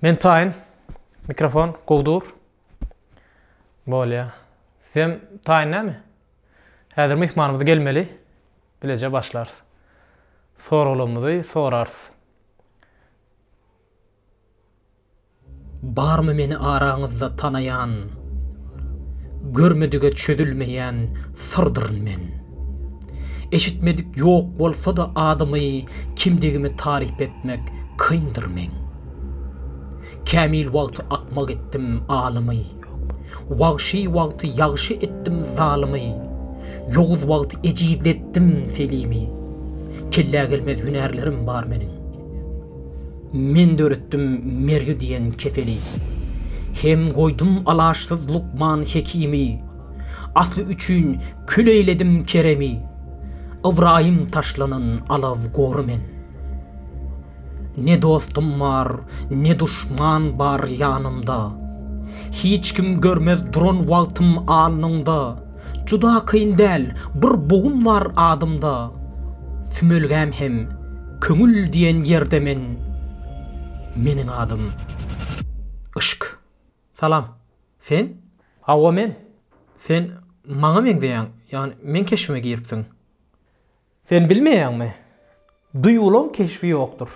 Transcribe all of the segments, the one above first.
Men taýyn mikrofon gowy dur. Bolýa. Sizem taýyn näme? Häzir myhmanymyz gelmeli. Bileje başlarys. Soraglarymyzy sorarys. Barmy meni araňyzda tanaýan? Görmedige çözülmeýän syrdyryn men. Eşitmedik ýok bolsa-da adymy, kimdigimi taryp etmek kyndyr meň. Kämil wagty akmak etdim alymy, wagşy wagty ýagşy etdim zalymy, ýowuz wagty ejizletdim selimi. Kellä gelmez hünärlerim bar meniň. Men döretdim mergi diýen keseli. Hem goýdum alaçsyz lukman hekimi. Asly üçin kül eýledim Keremi, Ybraýym taşlanan alaw gory men. Ne dostum bar, ne duşman bar ýanymda, Hiç kim görmez duran wagtym alnyňda, Juda kyn däl, bir bogun bar adymda, Sümelgäm hem köňül diýen ýerde men. Meniň adym, yşk. Salam. Sen? Hawa men. Sen maňa meňzeýäň, ýagny meň keşbime giripsiň. Sen bilmeýäňmi? Duýgulaň keşbi ýokdur.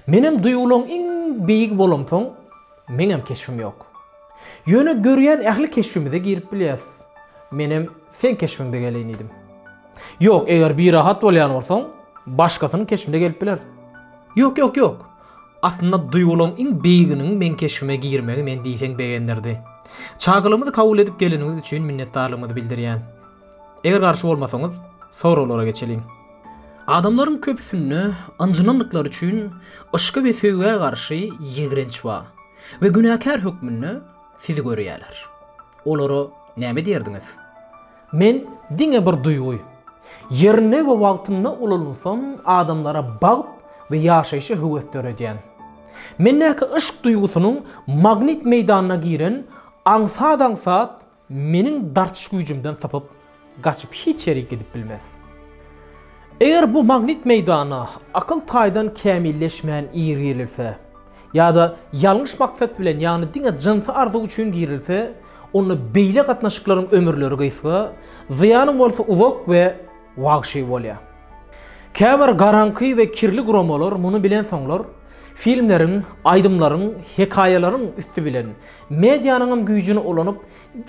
Menem duýgulaň iň beýigi bolamsoň, meňem keşbim ýok. Ýöne görýän ähli keşbimize girip bilýäs. Menem seň keşbiňde geleýin diýdim. Ýok, eger birahat bolýan bolsaň, başgasynyň keşbinde gelip biler. Ýok, ýok, ýok. Aslynda duýgularyň iň beýiginiň meň keşbime girmegi meni diýseň begendirdi. Çagylygymyzy kabul edip geleniňiz üçin minnetdarlygymyzy bildirýän. Eger garşy bolmasaňyz, soraglara geçeliň. Adamlaryň köpüsinde ynjynandyklary üçin yşka we söýgä garşy ýigrenç bar we günäkär hökmünde sizi görýärler. Olara näme diýerdiňiz? Men diňe bir duýgy. Ýerinde we wagtynda ulanynsam, adamlara bagt we ýaşaýşa höwes döredýän. Mendäki yşk duýgusynyň magnit meýdanyna giren aňsat-aňsat meniň dartyş güýjümden sypyp, gaçyp hiç ýere gidip bilmez. Eger bu magnit meýdana akyl taýdan kämilleşmän ir girilse, ýa-da ýalňyş maksat bilen, ýagny diňe jynsy arzuw üçin girilse, onda beýle gatnaşyklaryň ömürleri gysga, zyýanyň bolsa uzak we wagşy bolýar. Käbir garaňky we kirli guramalar muny bilen soňlar, filmleriň, aýdymlaryň, hekaýalaryň üsti bilen, medianyňam güýjüni ulanyp,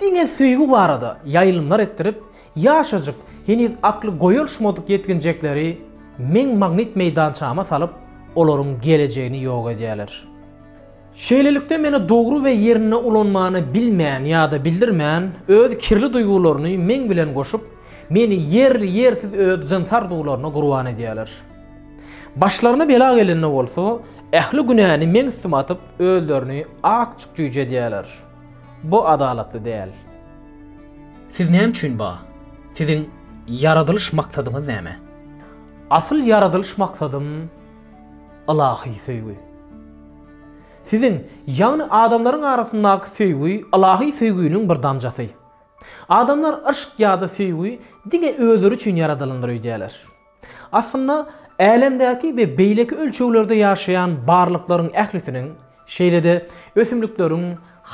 diňe söýgi barada ýaýlymlar etdirip, Ýaşajyk, heniz akly goýulşmadyk ýetginjekleri meň magnit meýdançama salyp, olaryň gelejegini ýok edýärler. Şeýlelikde meni dogry we ýerinde ulanmany bilmän ýa-da bildirmän, öz kirli duýgularyny meň bilen goşup, meni ýerli-ýersiz öz jyns arzuwlaryna gurban edýärler. Başlaryna bela gelende bolsa, ähli günäni meň üstüme atyp, özlerini akjyk jüýje edýärler. Bu adalatly däl. Siz näme üçin bar? Siziň ýaradylyş maksadyňyz näme? Asyl ýaradylyş maksadym ylahy söýgi. Siziň, ýagny adamlaryň arasyndaky söýgi ylahy söýginiň bir damjasy. Adamlar yşk ýa-da söýgi diňe özleri üçin ýaradylandyr öýdýärler. Aslynda, älemdäki we beýleki ölçeglerde ýaşaýan barlyklaryň ählisiniň, şeýle-de ösümlikleriň,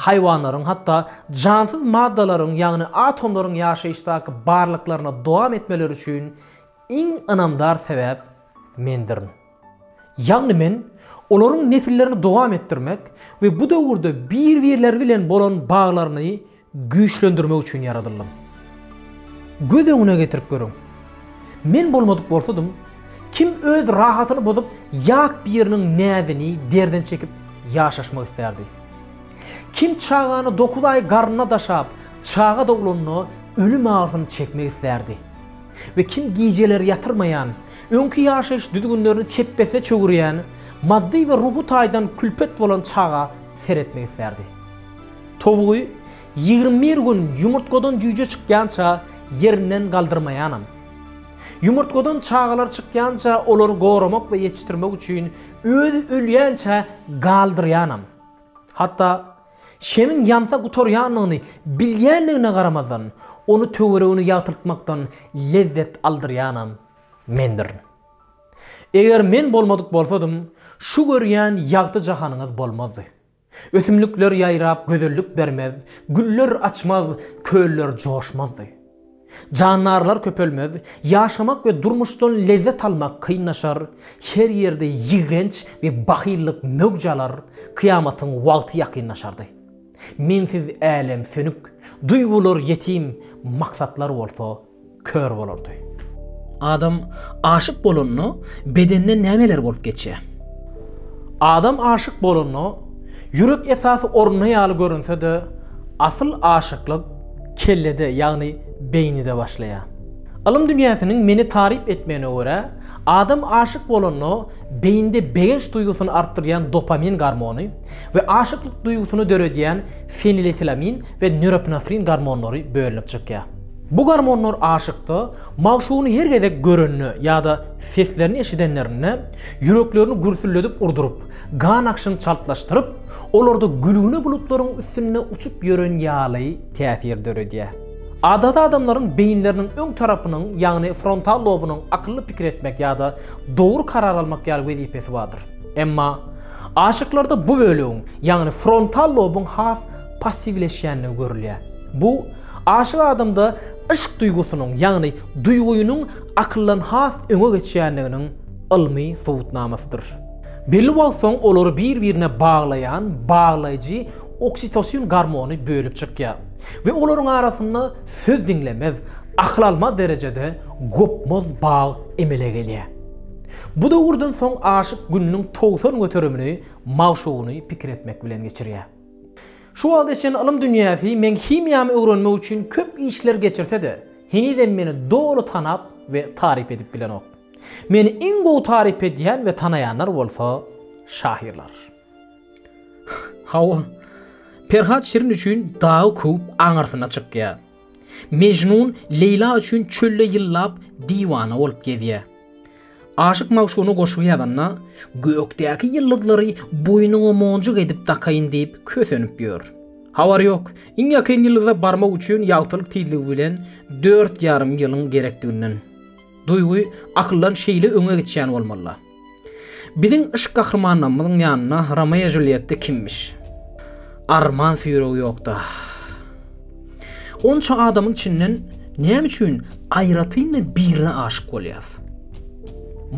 haýwanlaryň, hatda jansyz maddalaryň, ýagny atomlaryň ýaşaýyşdaky barlyklaryna dowam etmeleri üçin iň ynamdar sebäp mendirin. Ýagny men olaryň nesillerini dowam etdirmek we bu döwürde bir-birleri bilen bolan baglaryny güýçlendirmek üçin ýaradyldym. Göz öňüne getirip görüň. Men bolmadyk bolsadym, kim öz rahatyny bozup, ýat biriniň näzini, derdini çekip ýaşaşmak islärdi? Kim çagany dokuz aý garnynda daşap, çaga doglanda ölüm agyrysyny çekmek islärdi? We kim gijeleri ýatyrmaýan, Öňki ýaşaýyş düzgünlerini çepbesine çöwürýän, maddy we ruhy taýdan külpet bolan çaga seretmek islärdi. Towugy ýigrimi bir gün ýumurtgadan jüýje çykýança ýerinden galdyrmaýanam. Ýumurtgadan çagalar çykýança olary goramak we ýetişdirmek üçin özi ölýänçä galdyrýanam. Hatda Şemiň ýansa gutarýandygyny bilýändigine garamazdan, ony töweregini ýagtyltmakdan lezzet aldyrýanam mendirin. Eger men bolmadyk bolsadym, şu görýän ýagty jahanyňyz bolmazdy. Ösümlikler ýaýrap gözellik bermez, güller açmaz, köller joşmazdy. Jandarlar köpelmez, ýaşamak we durmuşdan lezzet almak kynlaşar, her ýerde ýigrenç we bahyllyk möwj alar, kyýamatyň wagty ýakynlaşardy. Mensiz älem sönük, duýgular ýetim, maksatlar bolsa kör bolardy. Adam aşyk bolanda, bedenine nämeler bolup geçýär? Adam aşyk bolanda, ýürek esasy orunda ýaly görünse-de, asyl aşyklyk, kellede, ýagny beýnide başlaýar. Ylym dünýäsiniň meni taryp etmegine görä, adam aşyk bolanda beýnide begenç duýgusyny artdyrýan dopamin gormony we aşyklyk duýgusyny döredýän feniletilamin we nöropinefrin gormonlary bölünip çykýar. Bu gormonlar aşykda magşugyny her gezek görende ýa-da seslerini eşidenlerinde ýüreklerini gürsülledip urduryp, Gan akşyny çaltlaşdyryp, olarda gülgüne bulutlaryň üstünde uçup ýören ýaly täsir döredýär. Adaty adamlaryň beýinleriniň öň tarapynyň, ýagny frontal lobunyň akylly pikir etmek ýa-da dogry karar almak ýaly wezipesi bardyr. Emma aşyklarda bu bölegiň, ýagny frontal lobuň has passiwleşýändigi görülýär. Bu aşyk adamda yşk duýgusynyň, ýagny duýgynyň akyldan has öňe geçýändiginiň ylmy subutnamasydyr. Belli wagt soň olary bir-birine baglaýan baglaýjy oksitosin gormony bölüp çykýar we olaryň arasynda söz diňlemez, akyl almaz derejede gopmaz bag emele gelýär. Bu döwürden soň aşyk gününiň togsan göterimini magşugyny pikir etmek bilen geçirýär. Şu wagta çenli ylym dünýäsi meň himiýamy öwrenmek üçin köp işler geçirse-de, henizem meni doly tanap we taryp edip bilenok. Meni iň gowy taryp edýän we tanaýanlar bolsa şahyrlar. Hawa, Perhat Şirin üçin dagy köwüp aňyrsyna çykýa. Mejnun Leýla üçin çölde ýyllap diwana bolup gezýä. Aşyk magşugyna goşgy ýazanda, gökdäki ýyldyzlary boýnuňa monjuk edip dakaýyn diýip kösenip ýör. Habar ýok, iň ýakyn ýyldyza barmak üçin ýagtylyk tizligi bilen dört ýarym ýylyň gerekdiginden. Duýgy akyldan şeýle öňe geçýän bolmaly-la. Biziň yşk gahrymanlamyzyň ýanyna Romeo-Julýetta kimmiş? Arman süýrügi ýok-da. Onça adamyň içinden näme üçin aýratyn-da birine aşyk bolýas?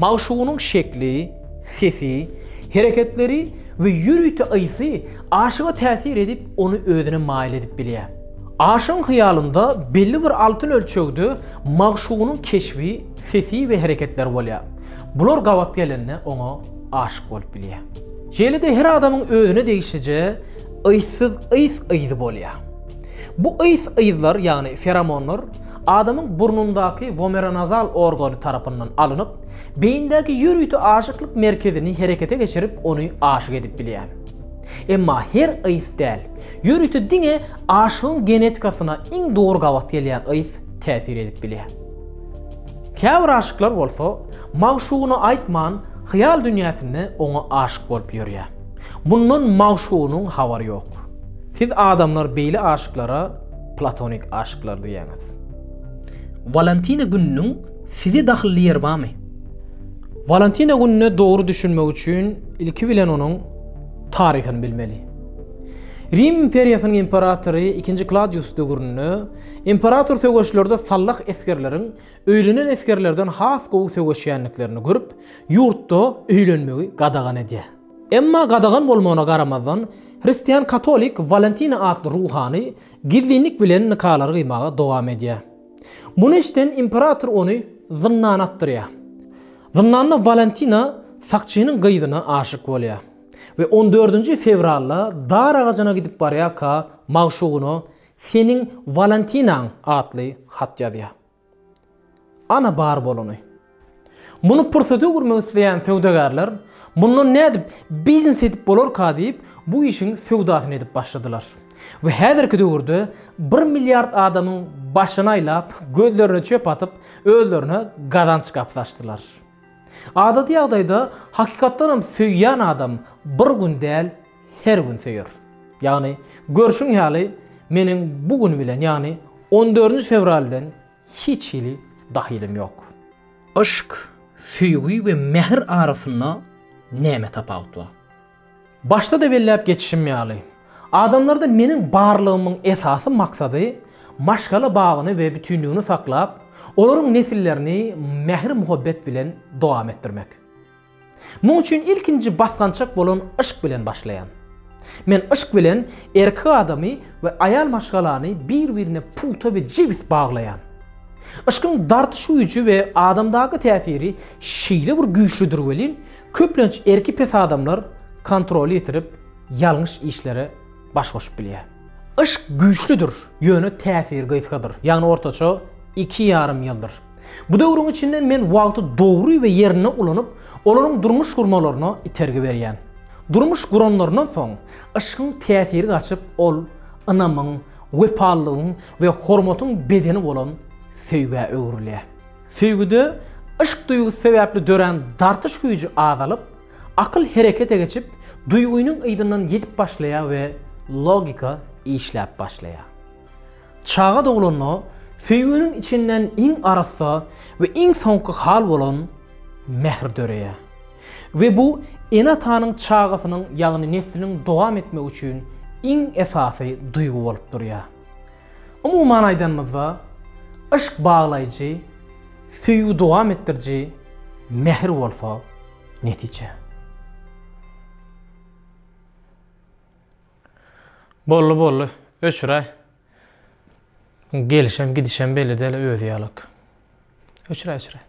Magşugynyň şekli, sesi, hereketleri we ýörite ysy aşyga täsir edip, ony özüne maýyl edip bilýär. Aşygyň hyýalynda belli bir altyn ölçegde magşugynyň keşbi, sesi we hereketleri bolýar. Bular gabat gelende oňa aşyk bolup bilýär. Şeýle-de her adamyň özüne degişlije yzsyz yz-yzy bolýar. Bu yz-yzlar, ýagny feromonlar, adamyň burnundaky womeronazal organy tarapyndan alynyp, beýindäki ýörite aşyklyk merkezini herekete geçirip, ony aşyk edip bilýär. Emma her ys däl. Ýörite diňe aşygyň genetikasyna iň dogry gabat gelýän ys täsir edip bilýär. Käbir aşyklar bolsa, magşugyna aýtman, hyýal dünýäsinde oňa aşyk bolup ýörýär. Mundan magşugynyň habary ýok. Siz adamlar beýle aşyklara platonik aşyklar diýýäňiz. Walantina gününiň size dahylly ýeri barmy? Walantina gününe dogry düşünmek üçin ilki bilen onuň Taryhyny bilmeli. Rim imperiýasynyň imperatory ikinji Kladius döwründe imperator söweşlerde sallah esgerleriň öýlenen esgerlerden has gowy söweşýändiklerini görüp, ýurtda öýlenmegi gadagan edýär. Emma gadagan bolmagyna garamazdan, hristian katolik Walentina atly ruhany gizlinlik bilen nikalary gyýmaga dowam edýär. Muny eşiden imperator ony zyndana atdyrýar. Zyndanda Walentina sakçynyň gyzyna aşyk bolýar we on dördünji fewralda dar agajyna gidip barýarka magşugyna Seniň Walentinaň atly hat ýazýar. Ana bar bolany. Muny pursat öwürmek isleýän söwdagärler mundan nädip biznes edip bolarka diýip bu işiň söwdasyny edip başladylar. we häzirki döwürde bir milliard adamyň başyny aýlap, gözlerine çöp atyp, özlerine gazanç gapysy açdylar. Adaty ýagdaýda hakykatdanam söýýän adam bir gün däl, her gün söýer. Ýagny, görşüň ýaly, meniň bu gün bilen, ýagny on dördünji fewral bilen hiç hili dahylym ýok. Yşk, söýgi we mähir arasynda näme tapawut bar? Başda-da belläp geçişim ýaly, adamlarda meniň barlygymyň esasy maksady maşgala bagyny we bütinligini saklap, olaryň nesillerini mähir-muhabbet bilen dowam etdirmek. Muň üçin ilkinji basgançak bolan yşk bilen başlaýan. Men yşk bilen erki adamy we aýal maşgalany bir-birine pugta we jebis baglaýan. Yşkyň dartyş güýji we adamdaky täsiri şeýle bir güýçlidir welin, Köplenç erki pes adamlar kontroly ýitirip, ýalňyş işlere baş goşup bilýär. Yşk güýçlüdir, ýöne täsiri gysgadyr, ýagny ortaça iki ýarym ýyldyr. Bu döwrüň içinde men wagty dogry we ýerinde ulanyp, olaryň durmuş gurmalaryna itergi berýän. Durmuş guranlaryndan soň, yşkyň täsiri gaçyp, ol ynamyň, wepalylygyň we hormatyň bedeni bolan söýgä öwrülýär. Söýgüde yşk duýgusy sebäpli dörän dartyş güýji azalyp, akyl herekete geçip, duýgynyň yzyndan ýetip başlaýar we logika işläp başlaýar. Çaga doglanda söýginiň içinden iň arassa we iň soňky hal bolan mähir döreýär we bu ene-atanyň çagasynyň ýagny nesliniň dowam etmegi üçin iň esasy duýgy bolup durýar. Umuman aýdanymyzda, yşk baglaýjy, söýgi dowam etdiriji, mähir bolsa, netije. Bolly bolly öçüräý. Gelişem gidişem belli däl özi ýalak. Öçüräý öçüräý.